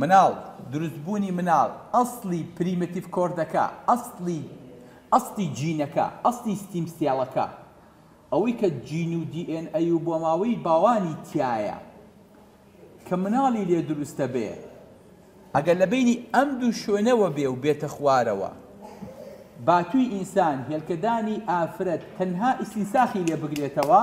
مناڵ، دروست بوونی مناڵ، ئەسڵی پریمەتیڤ کۆردەکە، ئەسڵی ئەسڵی جینەکە، ئەسڵی ستیم سێڵەکە، ئەوەی کە جین و دی ئێن ئەی و بۆماوەی باوانی تیایە کە مناڵی لێ دروستە بێ، ئەگەر لە بەینی ئەم دوو شوێنەوە بێ و بێتە خوارەوە باتووی ئینسان، هێلکەدانی ئافرەت تەنها ئیستینساخی لێ بگرێتەوە،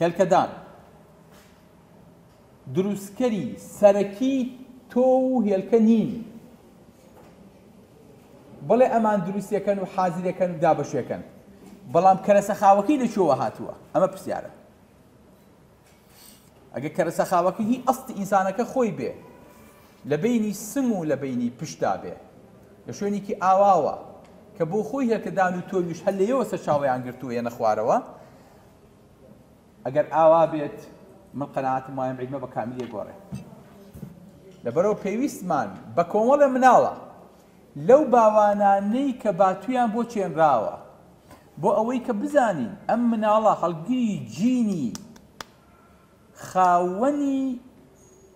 هێلکەدان، دروستکەری سەرەکی تۆو و هێلکە نین، بڵێ ئەمان دروستەکەن و حازرەکەن و دابەشێکەن، بەڵام کەرەسە خاوەکەی لە کوێوە هاتووە؟ ئەمە پرسیارە. ئەگە کەرەسە خاوەکە هی ئەست ئینسانەکە خۆی بێ لە بینی سم و لە بینی پشتا بێ لە شوێنێکی ئاواوە کە بۆ خۆی هێلکەدان و تۆویش هەر لەیەوە سەرچاویان گرتووە یەنە خوارەوە ئەگەر ئاوا بێت من قەناعەتم وایە ئەم عیلمە بە کامیلی ئەگۆڕێت لەبەرەوە پێویستمان بە کۆمەڵێ مناڵە لەو باوانانەی کە باتویان بۆ چێنراوە بۆ ئەوەی کە بزانین ئەم مناڵە هەڵگری جینی خاوەنی